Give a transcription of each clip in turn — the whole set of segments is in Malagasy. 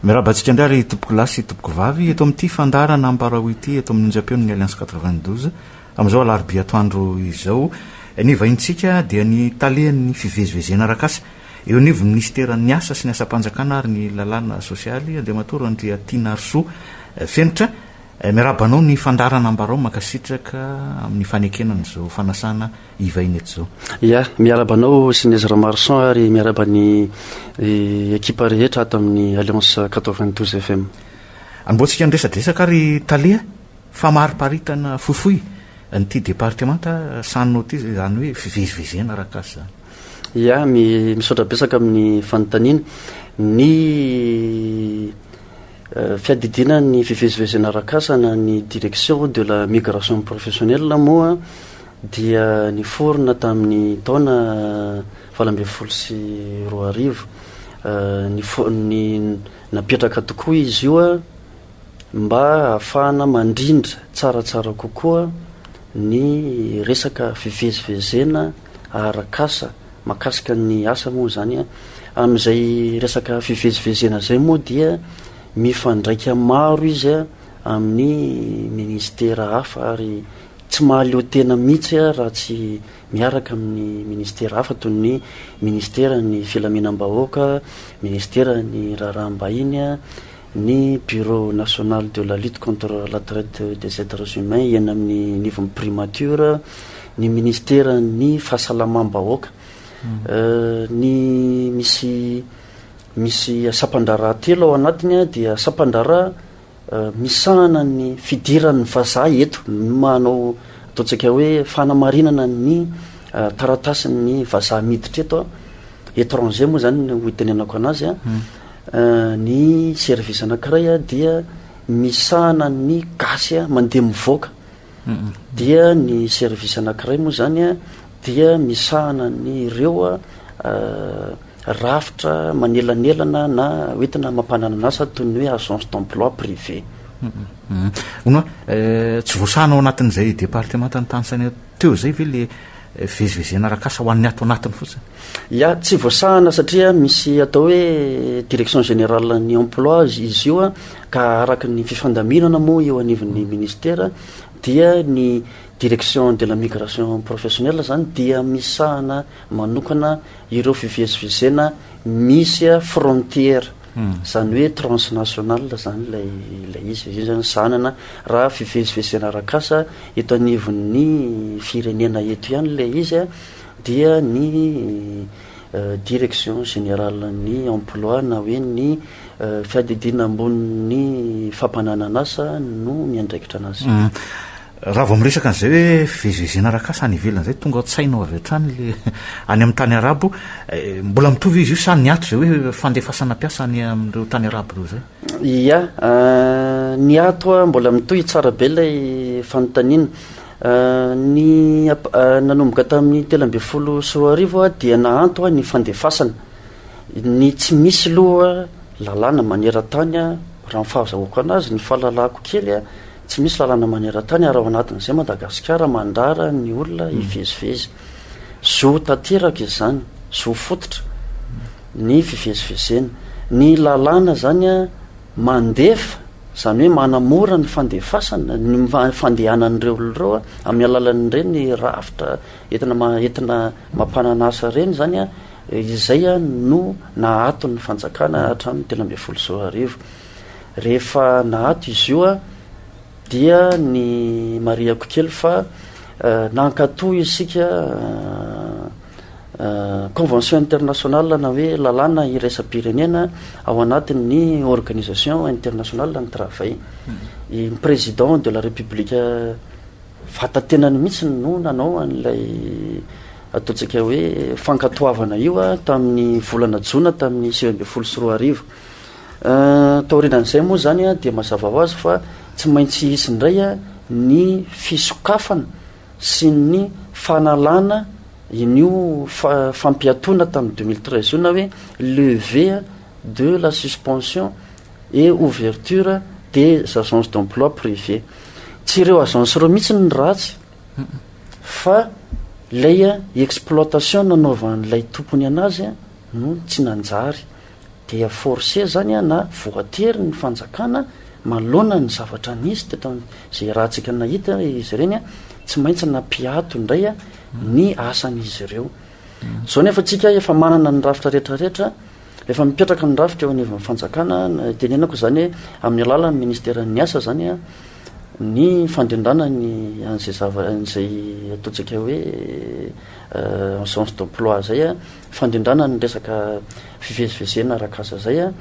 Miraba antsika indray ry tompoko lahy sy tompoko vavy eto amin'ity fandaharana ambarao ity eto amin'ny onjam-peon'ny Alliance 92. Amin'izao alarobia atoandro izao, ny vahintsika dia ny talehan'ny fivezivezena arak'asa eo anivon'ny minisiteran'ny Asa sy ny Asam-panjakana ary ny Lalàna Sosialy, Andriamatoa Randriatianarisoa Fenitra. Miarahaba anao ny fandaharana ambarao, mankasitraka amin'ny fanekena an'izao fanasana. hivaina eto izao. Ya, miarahaba anao sy ny Ezra Marson ary miarahaba ny ekipa rehetra ato amin'ny Alliance 92 FM. Anombohantsika ny resadresaka ary Tale a, famariparitana fohifohy an'ity departemanta Sanno ity izany hoe fivezivezena arak'asa izany. Ya, misaotra betsaka amin'ny fanontaniana. Ny eh, fiadidiana ny fivezivezena arak'asa na ny direction de la migration professionnelle moa dia niforona tamin'ny taona valo ambin'ny folo sy roa arivo. Ny napetraka tokoa izy io mba hahafahana mandrindra tsaratsara kokoa ny resaka fivezivezena arak'asa mahakasika ny asa moa izany. Amin'izay resaka fivezivezena izay moa dia mifandraika maro izy amin'ny minisitera hafa ary Tsy mahaleo tena mihitsy aho raha tsy miaraka amin'ny ministera hafa toy ny Ministeran'ny Filaminam-bahoaka, Ministeran'ny Raharaham-bahiny, ny Bureau National de la Lutte contre la Traite des Etres Humains eny amin'ny anivon'ny Primature, ny Ministeran'ny Fahasalamam-bahoaka. Ny misy misy sampan-draharaha telo ao anatiny dia sampan-draharaha misahana ny fidiran'ny vazaha eto ny manao ataontsika hoe fanamarinana ny taratasin'ny vazaha miditra eto an, étranger moa zany no itenenako anazy an, ny service anakiray dia misahana ny gasy mandeha mivoaka. dia ny service anankiray moa izany dia misahana ny ireo rafitra manelanelana na hoentina mampananana asa toy ny hoe agence d'emploi privé hono eh, tsy voasahana ao anatin'izay departemanta ny tany saina teo izay ve le eh, vezivezena rakasa ho an'ny ato anatiny fotsiny Ya, tsy voasahana satria misy atao hoe direction générale ny emploi izy io a, ka araka ny fifandaminana moa eo anivon'ny ministera dia ny direction de la migration professionnelle zany dia misahana manokana ireo fivezivezena misy a frontière, zany hoe transnational zany ilay ilay izy, io zany sahanana raha fivezivezena arak'asa eto anivon'ny firenena eto ihany ilay izy a. dia ny Direction Générale ny Emploi na hoe ny Fiadidiana Ambonin'ny Fampananan'asa no miandraikitra anazy. Raha vao miresaka an'izay hoe fivezivezena arak'asa any ivelany izay, tonga an-tsaina ao avy hatrany ilay any amin'ny tany Arabo. Mbola mitovy izy io sa niato izay hoe fandefasana mpiasa any amin'ireo tany Arabo ireo izay? Ia, niato, mbola mitohy tsara be ilay fanontaniana. Ny ap nanomboka tamin'ny telo ambin'ny folo sy roa arivo dia nahanto ny fandefasana ny tsy misy aloha lalàna maneran-tany raha ny fahazahoako anazy, ny fahalalako kely tsy misy lalàna maneran-tany ary ao anatin'izay Madagasikara mandrara ny olona hivezivezy. Zo tanteraka izany, zo fototra ny fivezivezena. Ny lalàna izany a. Mandefa, izany hoe manamora ny fandefasana, ny fandehanan'ireo olona ireo amin'ny alalan'ireny rafitra entina entina mampanana asa ireny izany an, izay no naato ny fanjakana hatramin'ny telo ambin'ny folo sy roa arivo. Rehefa naato izy io an, dia ny marihako kely fa nankatò isika Convention internationale na hoe lalàna iraisam-pirenena ao anatin'ny organisation internationale ny travail. I président de la république vata-tenany mihitsy no nanao an'ilay ataontsika hoe fankatoavana io tamin'ny volana jona tamin'ny sivy ambin'ny folo sy roa arivo. Taorianan'izay moa izany dia mazava ho azy fa tsy maintsy hisy indray ny fisokafana sy ny fanalana in'io fampiatoana tamin'ny deux mille treize io na hoe leve de la suspension et ouverture des agences d'emploi privé. Tsy ireo agence ireo mihitsy ny ratsy fa ilay exploitation nanaovan'ilay tompony an'azy no tsy nanjary. Dia forcer zany an na voatery ny fanjakana manoloana ny zavatra nisy teto an izay ratsika nahita izy ireny an tsy maintsy nampiato indray an ny asan izy ireo. Zao nefa tsika efa manana ny rafitra rehetra rehetra efa mipetraka ny rafitra eo anivon'ny fanjakana tenenako izany hoe amin'ny alalan'ny ministeran'ny asa zany an ny fandrindrana ny an'izay zava an'izay ataontsika hoe en sens d'emploi zay an. fandrindrana ny resaka fivezivezena arak'asa izay a,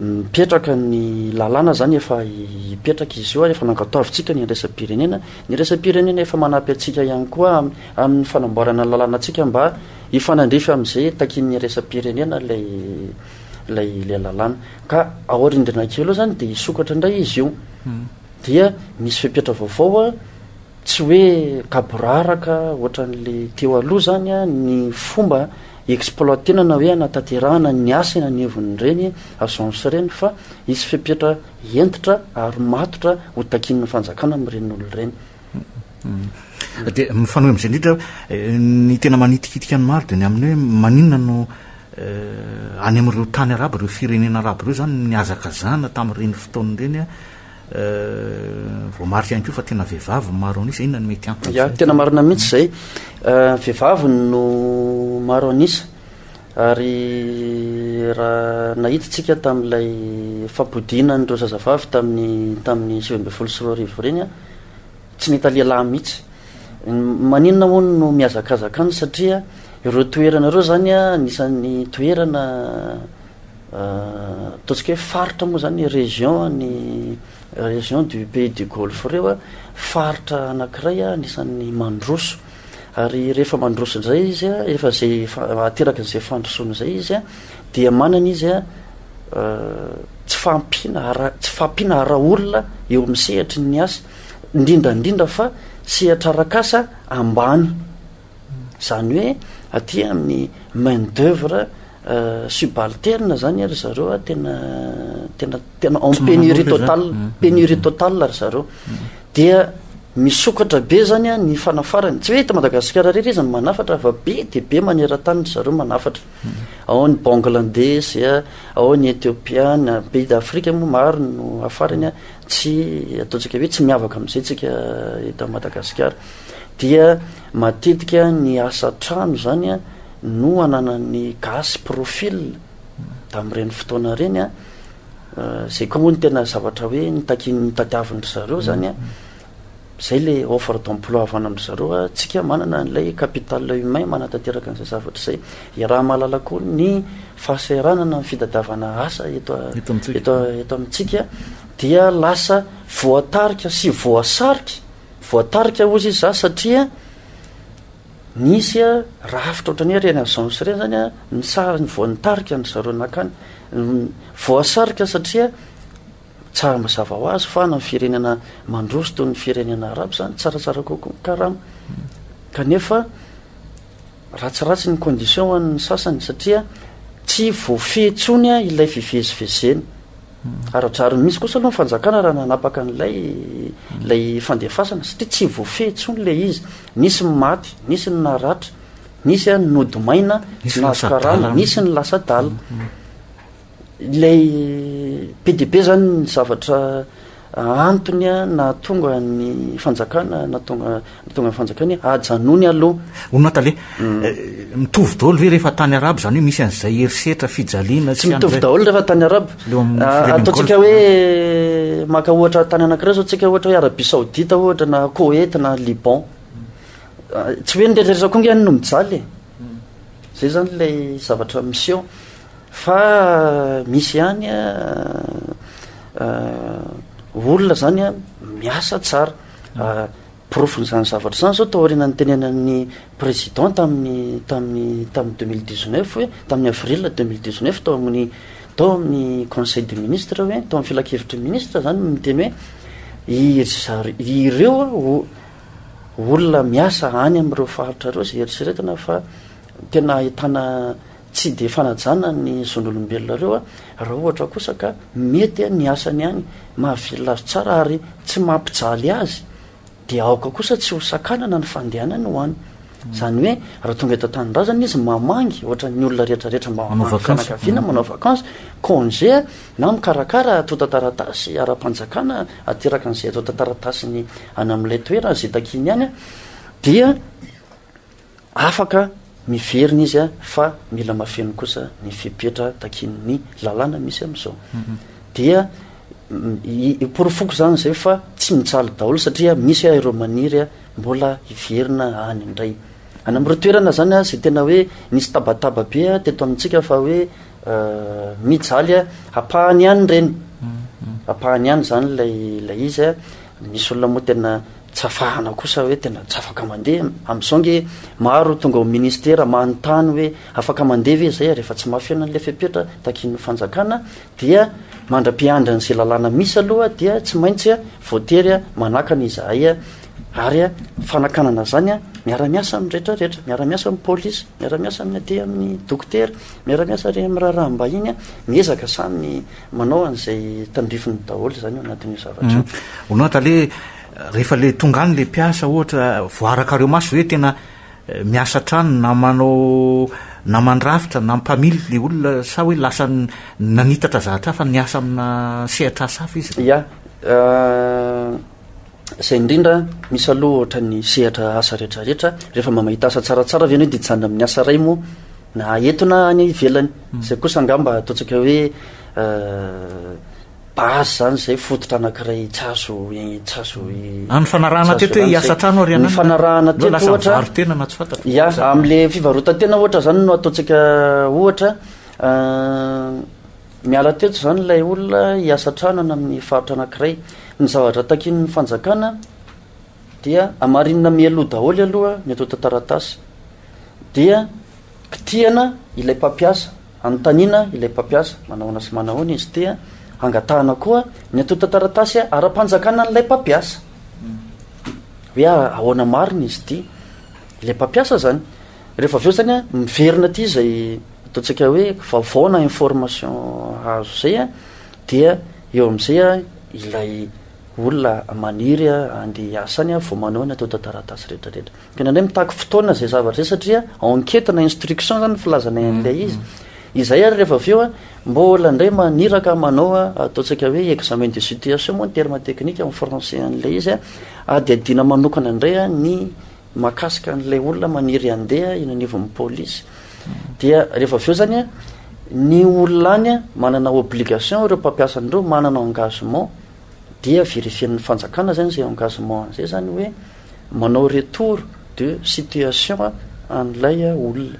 mipetraka ny lalàna izany efa hipetraka izy io ary efa nangataovintsika ny iraisampirenena, ny iraisampirenena efa manampy antsika ihany koa amin'ny fanamboarana ny lalànantsika mba hifanandrify amin'izay takian'ny iraisampirenena ilay ilay ilay lalàna ka aorian-dRinakely eo izany dia hisokatra indray izy io dia misy fepetra vaovao a Tsy hoe gaboraraka ohatran'le teo aloha zany ny fomba exploitena na hoe anatanterahana ny asa eny anivon'ireny agence ireny fa hisy fepetra hentitra ary matotra ho takian'ny fanjakana amin'ireny olona ireny. Dia mifanohy amin'izay indrindra hoe ny tena manitikitika ny maro dia ny amin'ny hoe maninona no any amin'ireo tany arabo, ireo firenena arabo ireo izany nihazakazahana tamin'ireny fotoana ireny Voamarika ihany koa fa tena vehivavy no maro an'isa. Inona no mety antony amin'izay? Ya, tena marina mihitsy izay. Vehivavy no maro an'isa ary raha nahita isika tamin'ilay fampodiana an'ireo zazavavy tamin'ny tamin'ny sivy ambin'ny folo sy roa arivo ireny, tsy nahita lehilahy mihitsy. Maninona moa no mihazakazaka any satria ireo toerana ireo izany anisan'ny toerana Ataontsika hoe faritra moa zany région ny région du pays du golfe reo faritra anakiray anisan'ny mandroso ary rehefa mandroso indray izy a efa zay ateraky izay fandrosoana izay izy a dia manana izy a tsy fahampiana ara tsy fahampiana ara olona eo amin'ny sehatry ny asa indrindra indrindra fa sehatra arakasa ambany Izany hoe aty amin'ny main d'oeuvre subalterne zany ry zareo a tena tena tena en pénurie totale pénurie totale ry zareo dia misokatra be zany a ny fanafarany tsy hoe eto madagasikara rery izy ny manafatra fa be dia be maneran-tany ry zareo manafatra ao ny bangladesy a ao ny ethiopiana pays d'afrika moa maro no afarany a tsy ataontsika hoe tsy miavaka amin'izay tsika eto madagasikara Dia matetika ny asa an-trano izany no ananan'ny gasy profil tamin'ireny fotoana ireny an, izay koa moa no tena zavatra hoe nitakian'ny nitadiavin-dry zareo izany an, izay ilay offre d'emploi avy any amin-dry zareo an, tsika manana an'ilay capital humain manatanteraka an'izay zavatra izay, iaraha mahalala koa ny fahasahiranana amin'ny fitadiavana asa eto eto amintsika dia lasa voatarika sy voasarika Voatarika hozy izy za satria nisy rafitra ohatran'ny hoe ireny an'i Jean Mousse ireny zany a, ny sariny vao nitarika ny zareo nankany, voasarika satria tsara mazava ho azy fa ny firenena mandroso toy ny firenena arabo zany tsaratsara kokoa ny karama, kanefa Ratsiratsy ny condition ho an'ny sasany satria tsy voafehy intsony ilay fivezivezena. Ara-drariny mihitsy kosa aloha ny fanjakana raha nanapaka an'ilay ilay fandefasana satria tsy voafehy intsony ilay izy. Nisy ny maty, nisy ny naratra, nisy ny nody maina, tsy nahazo karama, nisy ny lasa adala. Ilay be dia be izany ny zavatra antony nahatonga ny fanjakana nahatonga nahatonga ny fanjakana hoe ajanony aloha. Onona tale. Mitovy daholo ve rehefa tany arabo izany hoe misy an'izay herisetra, fijaliana sy Tsy mitovy an'izay? daholo rehefa tany arabo. Leo amin'ny Ah, firenen'ny Ataontsika Golf. hoe maka ohatra tany anankiray izao tsika ohatra hoe Arabie Saoudite ohatra na Koweït na Liban. Ah, Tsy hoe ny rehetra rehetra koa ange any no mijaly e. Zay izany ilay zavatra miseho. Fa misy ihany olona zany an miasa tsara porofon'izany zavatra izany zao taoriana nitenenan'ny président tamin'ny tamin'ny tamin'ny deux mille dix neuf hoe tamin'ny avril deux mille dix neuf tao amin'ny tao amin'ny conseil des ministres hoe tao amin'ny filankevitry ny ministre zany no niteny hoe iry zar- ireo o- olona miasa any amin'ireo faritra ireo izay eritreretina fa tena ahitana Tsy dia fanajana ny zon'olombelona ireo raha ohatra kosa ka mety ny asany any mahavelona azy tsara ary tsy mampijaly azy dia aoka kosa tsy ho sakanana ny fandehanany ho any. Izany hoe raha tonga eto an-tanindrazana izy mamangy ohatran'ny olona rehetrarehetra mba ho any fianakaviana manao vacance, congé na mikarakara atontan-taratasy ara-panjakana ateraka an'izay atontan-taratasiny any amin'ilay toerana izay takiany any dia Afaka miverina izy fa mila mafeno kosa ny fepetra takian'ny lalàna misy amin'izao. Dia iporofoko izany izay fa tsy mijaly daholo satria misy ireo maniry mbola hiverina any indray. Any amin'ireo toerana izany izay tena hoe nisy tabataba be teto amintsika fa hoe mijaly ampahany ihany ireny, ampahany ihany izany ilay izy. Misy olona moa tena Tsy afahana kosa hoe tena tsy afaka mandeha. Amin'izao ange maro tonga ao ministera manontany hoe afaka mandeha ve izay ary efa tsy mafy eo ilay fepetra takian'ny fanjakana dia mandra-piandry an'izay lalàna misy aloha dia tsy maintsy voatery manakana izahay ary fanakanana izany miara-miasa amin'ny rehetra rehetra, miara-miasa amin'ny polisy, miara-miasa amin'ny aty amin'ny dokotera, miara-miasa ary amin'ny raharaham-bahiny miezaka samy Manao an'izay tandrifiny daholo izany ao anatin'io zavatra io. Ho note aleha rehefa le tonga any le mpiasa ohatra voarakareo maso hoe tena miasa hatrany na manao na mandrafitra na mpamily le olona sa hoe lasa nanitatra zahatra hafa niasa amina sehatra asa hafa izy? Ya. Izay indrindra, misy aloha ohatra ny sehatra asa rehetra rehetra, rehefa mba mahita asa tsaratsara ve ianao dia hijanona amin'ny asa iray moa na eto na any ivelany. Hmm. Izay kosa angamba ataontsika hoe euh, base zany izay fototra anankiray tsy azo tsy azo hmm. any fanarahana teto hoe hiasa trano ary ny fanarahana teto ohatra varontena na tsy fantatra ya amin'le fivarotantena ohatra zany no ataontsika ohatra euh, Niala teto izany ilay olona hiasa an-trano any amin'ny faritra anankiray. Ny zavatra takian'ny fanjakana dia hamarinina mialoha daholo aloha ny antontan-taratasy. Dia kitihana ilay mpampiasa, anontaniana ilay mpampiasa manahoana sy manahoana izy, dia hangatahana koa ny antontan-taratasy ara-panjakana an'ilay mpampiasa. Hoe ahoana marina izy ity, ilay mpampiasa izany. Rehefa avy eo zany a, miverina aty izay ataontsika hoe vaovao na information azo izay a, dia eo amin'izay a ilay olona maniry a andeha hiasa any a vao manao ny antontan-taratasy rehetrarehetra. Ka indraindray mitaky fotoana izay zavatra izay satria enquête na instruction izany ny filazanay an'ilay izy. Izay ary rehefa avy eo a, mbola indray maniraka manao a ataontsika hoe examen de situation moa ny terme technique amin'ny français an'ilay izy a, adihadiana manokana indray a ny Mahakasika an'ilay olona maniry handeha eny anivon'ny polisy dia rehefa avy eo zany a ny olona any a manana obligation ireo mpampiasa an'ireo manana engagement dia vérifier-n'ny fanjakana zany izay engagement an'izay zany hoe manao retour de situation an'ilay olona.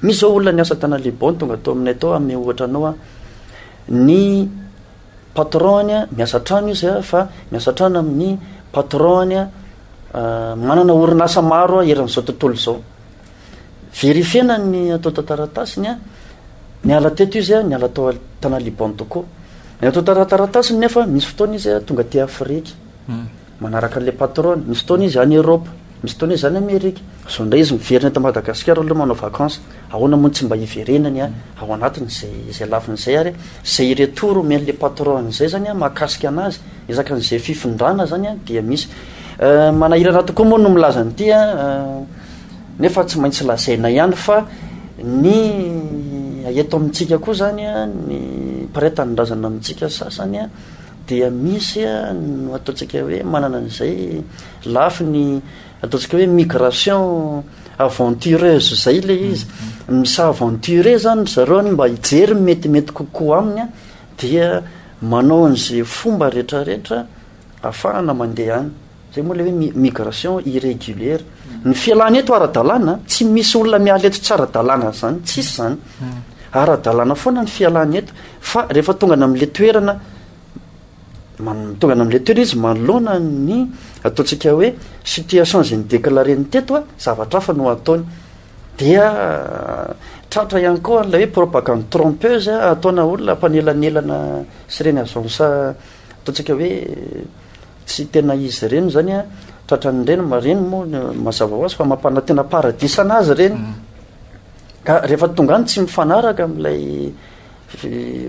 Misy zao olona niasa tany Liban tonga tao aminay tao hanome ohatra anao aho ny patron-ny a, miasa an-trano izy a, fa miasa an-trano amin'ny patron-ny a, manana orinasa maro a eran'izao tontolo izao. Verifiena ny ato tantaratasiny a, niala teto izy a, niala tao Tanaliban Toko. Ny ato tantaratasiny nefa misy fotoana izy a, tonga aty Afrika. Hmm. Manaraka an'ilay patronne. Misy fotoana izy any Europe, misy fotoana izy any Amerika. Zao indray izy miverina eto Madagasikara aloha manao vacances. Ahoana moa no tsy mba hiverenany ao anatiny izay izay lafiny izay ary izay retour omen'ilay patronne izay izany mahakasika anazy, ezaka an'izay fifindrana izany dia misy. Manahirana tokoa moa no milaza an'ity a, nefa tsy maintsy lazaina ihany fa ny eto amintsika koa izany a, ny mpiraita ny razana amintsika sasany a, dia misy no ataontsika hoe manana an'izay lafiny ataontsika hoe migration aventureuse zay le izy mm-hmm. misa aventure zany zareo any mba hijery metimety kokoa aminy a dia manao an'izay fomba rehetrarehetra afahana mandeha any Zay moa le hoe migration irrégulière. Ny fialana eto ara-dalàna, tsy misy olona miala eto tsy ara-dalàna zany, tsisy zany. Hmm. Ara-dalàna foana ny fialana eto fa rehefa tonga na amin'le toerana tonga na amin'le toerana izy manoloana ny ataontsika hoe situation zay ny déclaré ny teto a, zavatra hafa no ataony. Dia tratra ihany koa an'ilay hoe propagande trompeuse ataona olona mpanelanelana sy ireny agence Ataontsika hoe tsy tena izy ireny izany an, tratran'ny reny, reny moa mazava ho azy fa mampanantena paradisa an' azy ireny, ka rehefa tonga any tsy mifanaraka amin'ilay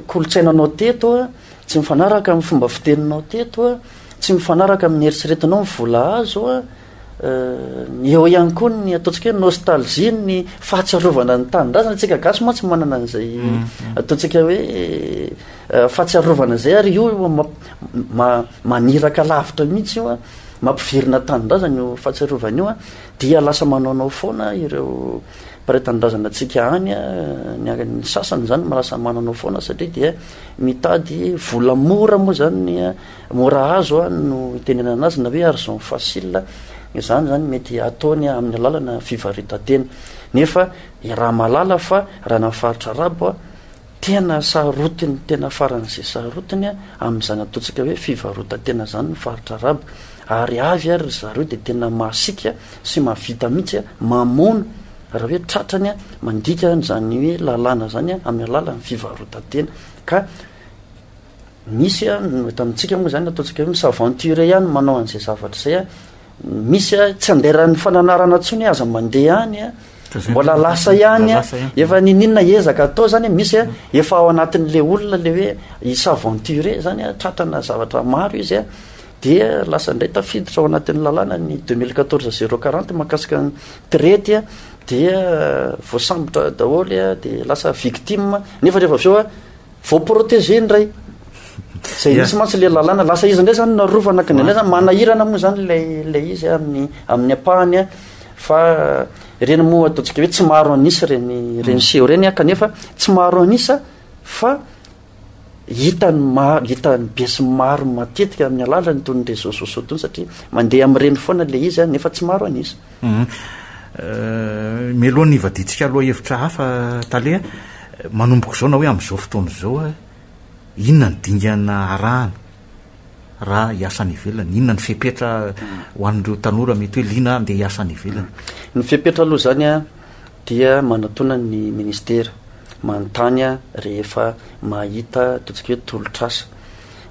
kolontsainanao teto an, tsy mifanaraka amin'ny fomba fiteninao teto an, tsy mifanaraka amin'ny eritreretinao ny vola azo an, Eo ihany koa ny ataontsika hoe nostalgie ny fahatsiarovana ny tanindrazana tsika gasy mantsy manana an'izay mm-hmm. ataontsika hoe eh, fahatsiarovana zay ary io maniraka lavitra mihitsy io a mampivirina tanindrazana io fahatsiarovana io a dia lasa manaonao foana ireo mpray tanindrazana tsika any a ny sasany zany malasa manaonao foana satria dia mitady volamora moa zany Mora azo no itenenana azy na hoe argent facile, izany zany mety ataony amin'ny alalana fivarita-tena. Nefa iaraha mahalala fa raha any amin'ny faritra arabo, tena sarotiny tena faran'izay sarotiny amin'izany ataontsika hoe fivarota-tena izany ny faritra arabo, ary avy ary ry zareo dia tena masiaka sy mahavita mihitsy mamono raha hoe tratrany mandika izany hoe lalàna izany amin'ny alalan'ny fivarota-tena ka Misy a, eto amintsika moa zany ataontsika hoe mi-s'aventurer ihany no manao an'izay zavatra zay a. Misy a, tsy andairan'ny fananarana intsony hoe aza mandeha any a, mbola lasa ihany a. Efa niniana ezaka atao zany a, misy a, efa ao anatin'le olona le hoe hi-s'aventurer zany a, tratrana zavatra maro izy a, dia lasa indray tafiditra ao anatin'ny lalàna ny deux mille quatorze zero quarante mahakasika ny tirety a, dia voasambotra daholo a, dia lasa victime, nefa rehefa avy eo a. Voaproteger indray. Zay mihitsy mantsy ilay lalàna. Lasa izy indray zany no arovana ka indraindray zany manahirana moa zany ilay ilay izy amin'ny amin'ny ampahany fa ireny moa ataontsika hoe tsy maro an'isa ireny ireny mm. seho ireny kanefa tsy maro an'isa fa hitany maro hitany be sy maro matetika amin'ny alalany toy ny réseaux sociaux tony satria mandeha amin'ireny foana ilay izy nefa tsy maro an'isa. Mialohan'ny hivadiantsika lohahevitra hafa, Tale a, manomboka izao na hoe amin'izao fotoana izao, inona ny dingana arahana raha hiasa any ivelany? Inona ny fepetra ho an'ireo tanora mety hoe liana handeha hiasa any ivelany? Ny fepetra aloha izany a, dia manatona ny ministera manontany rehefa mahita ataontsika hoe tolotr'asa.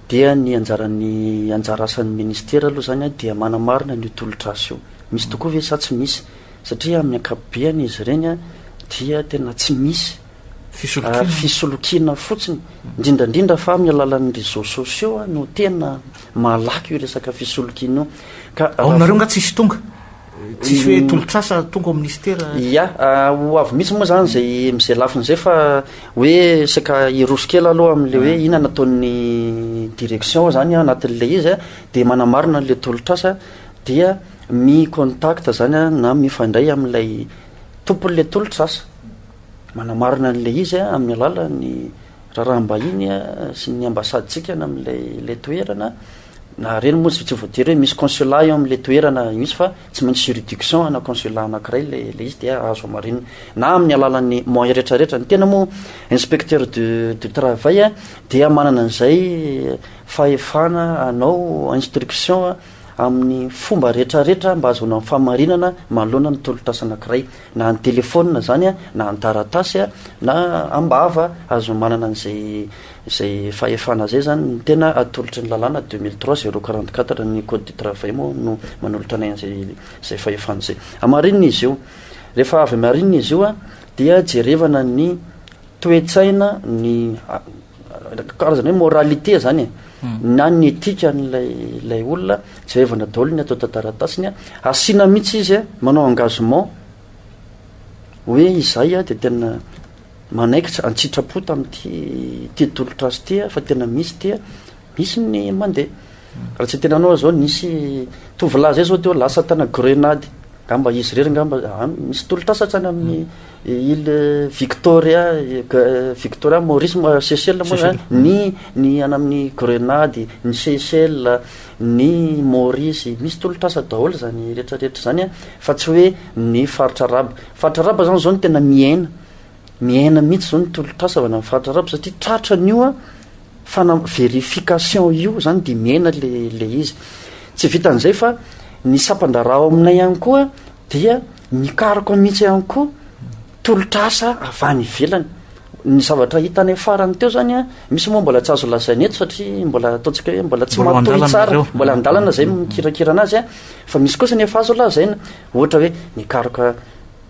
Dia ny anjaran'ny anjara asan'ny Ministera aloha izany dia manamarina an'io tolotr'asa io. Misy tokoa ve sa tsy misy? Satria amin'ny ankapobeny izy ireny dia tena tsy misy ary fisolokiana fotsiny, indrindra indrindra fa amin'ny alalan'ny réseaux sociaux no tena malaky io resaka fisolokiana io. Ka raha vao. Ao aminareo angaha tsisy tonga? Tsisy hoe mm. tolotrasa tonga ao ministera? Ia, ah, ho avy mihitsy moa zany zay mizay lafiny zay fa hoe saika hiroso kely aloha amin'le hoe mm. ina nataon'ny direction zany anatin'le izy a de manamarina an'le tolotrasa dia mi contact zany a na mifandray amin'ilay tompon'le tolotrasa manamarina an'le izy a amin'ny alalan'ny raharaham-bahiny sy ny ambasadentsika na amin'ilay ilay toerana Na reny moa tsy voatery hoe misy consulat eo amin'ilay toerana mihitsy fa tsy maintsy juridiction ana consulat anankiray ilay ilay izy dia azo hamarinina na amin'ny alalan'ny moyen rehetra rehetra. Ny tena moa inspecteur du du travail dia manana an'izay fahefana hanao instruction amin'ny fomba rehetra rehetra mba ahazoana ny fahamarinana manoloana ny tolotr'asa anankiray na ny telephone izany na ny taratasy na am-bava azo manana an'izay Izay fahefana izay izany no tena atolotry ny lalàna deux mille trois zéro quarante quatre ny code du travail moa no manolotra anay an'izay izay fahefana izay. Hamarinina izy io. Rehefa avy hamarinina izy io a, dia jerevana ny toe-tsaina, ny karazana hoe moralité izany e, na ny etika an'ilay ilay olona, jerevana daholo ny ato an-taratasiny a, asiana mihitsy izy a, manao engagement hoe izahay a dia tena Manaikitra an-tsitrapo tamin'ity ity tolotr'asa ity aho fa tena misy ity a, misy ny mandeha. Raha tsy tena anao izao nisy tovolahy izay izao teo lasa tana grenady, angamba izy irery angamba any misy tolotr'asa hatrany amin'ny île Victoria Victoria Maurice Seychelles moa izany ny ny any amin'ny grenady, ny Seychelles, ny Maurice, misy tolotr'asa daholo izany rehetrarehetra izany a fa tsy hoe ny faritra arabo. Faritra arabo zany zao no tena miaina miaina mihitsy zao ny tolotr'asa avy any amin'ny faritra arabo satria tratra an'io an fana- verification io zany dia miaina le le izy tsy vitan'izay fa ny sampan-draharaha ao aminay ihany koa dia mikaroka mihitsy ihany koa tolotr'asa avy any ivelany ny zavatra hitanay farany teo zany an misy moa mbola tsy azo lazaina eto satria mbola ataontsika hoe mbola tsy Mbola ao matoy an-dalana tsara ireo. mbola an-dalana zay mikirakira anazy an fa misy kosa ny efa azo lazaina Ohatra hoe nikaroka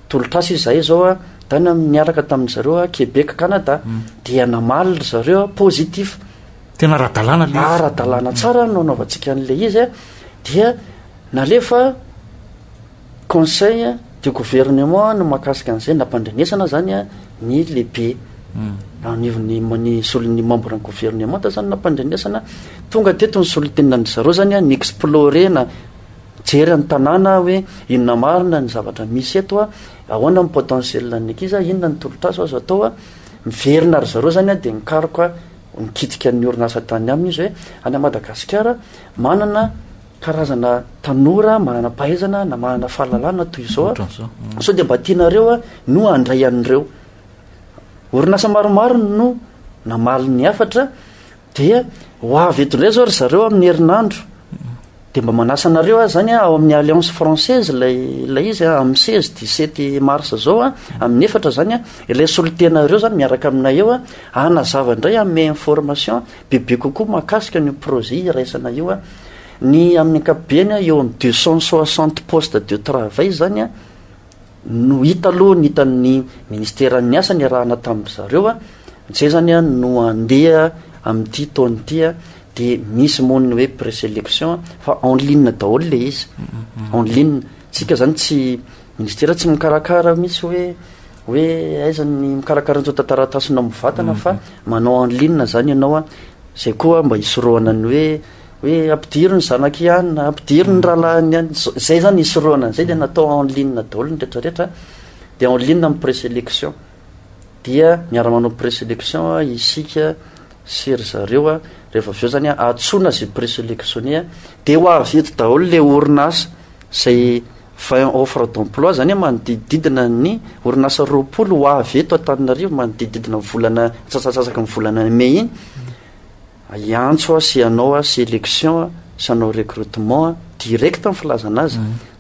tolotr'asa izy izahay izao a, tany niaraka tamin-dry zareo a Québec Canada, dia namaly ry zareo a positif. Tena ara-dalàna ilay izy. Ara-dalàna tsara no anaovantsika an'ilay izy a, dia nalefa conseil de gouvernement ny mahakasika an'izay nampandrenesana izany a ny lehibe anivon'ny ny solon'ny membre ny gouvernementa izany nampandrenesana, tonga teto ny solontenina an-dry zareo izany a ni-explorer-na. Jery ny tanàna hoe inona marina ny zavatra misy eto a, ahoana ny potentiel an'ny ankizy a, inona ny tolotr'asa azo atao a, miverina ry zareo zany a de nikaroka nikitika ny orinasa tany aminy izy hoe any a Madagasikara manana karazana tanora mananam-pahaizana na manana fahalalana toy izao a, sao de mba tianareo a no handray an'ireo. Orinasa maromaro no namaly ny hafatra Dia ho avy eto indray izao ry zareo amin'ny herinandro. Dia mba manasa anareo aho izany ao amin'ny Alliance Française ilay ilay izy amin'ny 16 17 mars izao a, amin'ny efatra izany a, ilay solontena ireo izany miaraka aminay eo a, hanazava indray hanome information bebe kokoa mahakasika an'io projet iraisana io a. Ny amin'ny ankapobeny eo amin'ny 260 postes de travail izany a. no hita aloha ny hitan'ny ministeran'ny asa niarahana tamin-dry zareo a, izay izany a no handeha amin'ity taona ity a, dia misy moa ny hoe présélection a, fa en ligne daholo ilay izy, en ligne, isika izany tsy, ministera tsy mikarakara mihitsy hoe hoe aiza ny mikarakara ny tsontan-taratasy na mivatana fa manao en ligne izany ianao a, izay koa mba hisorohana ny hoe. Hoe ampidiro ny zanak'i Ian, ampidiro ny rahalahin'i Ian. Izay izany hisorohana an'izay dia natao en ligne daholo ny rehetrarehetra. Dia en ligne amin'ny présélection. Dia miara-manao présélection isika sy ry zareo. Rehefa avy eo izany antsoina izay présélectionné. Dia ho avy eto daholo ilay orinasa izay 20 offres d'emploi, izany hoe manodidididina ny orinasa roapolo ho avy eto Antananarivo manodidididina ny volana, antsasak'asasaky ny volana mey iny. hiantso aho sy hanao aho sélection sy hanao recrutement direct ny filazana azy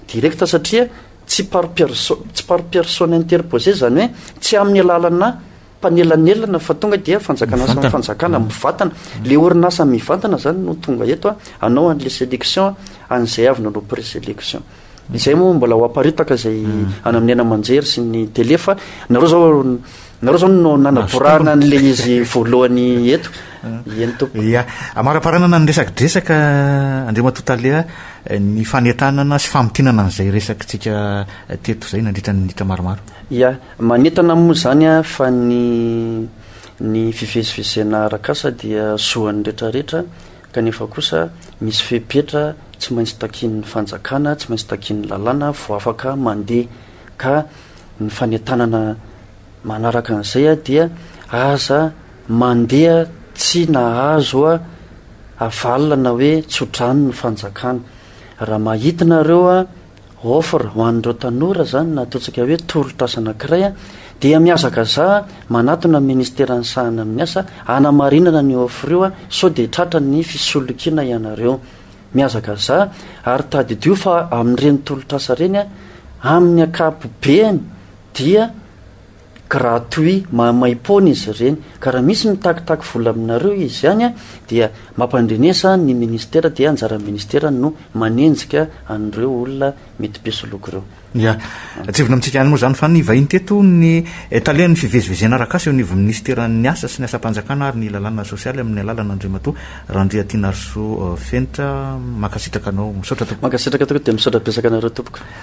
direct satria tsy par perso tsy par personne interposé zany hoe tsy amin'ny alalana mpanelanelana fa tonga dia fanjakana samy fanjakana mivantana le orinasa mivantana zany no tonga eto a hanao an'le sélection an'izay avy nanao présélection Izay moa mbola ho aparitaka izay hmm. any amin'ny aina aman-jery sy ny tele fa nareo zao nareo zao no nanaborana an'la izy voalohany eto iany tompo ya amaraparanana ny resaka dresaka andriamatoa talea eh, ny fanentanana sy famintinana an'izay resakitsika eh, teto izay nandritra ny nitra maromaro ya manentana moa zany a fa ny ny fivezivezena arakasa dia zoan'ny retraretra kanefa kosa misy fepetra tsy maintsy takian'ny fanjakana, tsy maintsy takian'ny lalàna vao afaka mandeha, ka ny fanentanana manaraka an'izay dia aza mandeha tsy nahazo avalona hoe tsodrano ny fanjakana, raha mahita nareo Offre ho an'ireo tanora izany na ataontsika hoe tolotr'asa anankiray dia mihazakazaha manatona ny Ministera nisahana amin'ny asa hanamarinana an'io offre io sao dia tratra ny fisolokiana ianareo. Mihazakazaha ary tadidio fa amin'ireny tolotr'asa ireny amin'ny ankapobeny dia gratuit mahamaim-poana izy ireny ka raha misy mitakitaky vola aminareo izy ihany dia mampandrenesa ny ministera dia anjaran'ny ministera no manenjika an'ireo olona mety mpisoloky ireo. Ya. Tsivona amintsika ihany moa izany fa nivahiny teto ny talen'ny fivezivezena arak'asa eo anivon'ny minisiteran'ny asa sy ny asam-panjakana ary ny lalàna sosialy amin'ny alalana Andriamatoa Randriatinarisoa Fenitra. Mankasitraka anao. Misaotra tompoko. Mankasitraka tokoa dia misaotra betsaka anareo tompoko.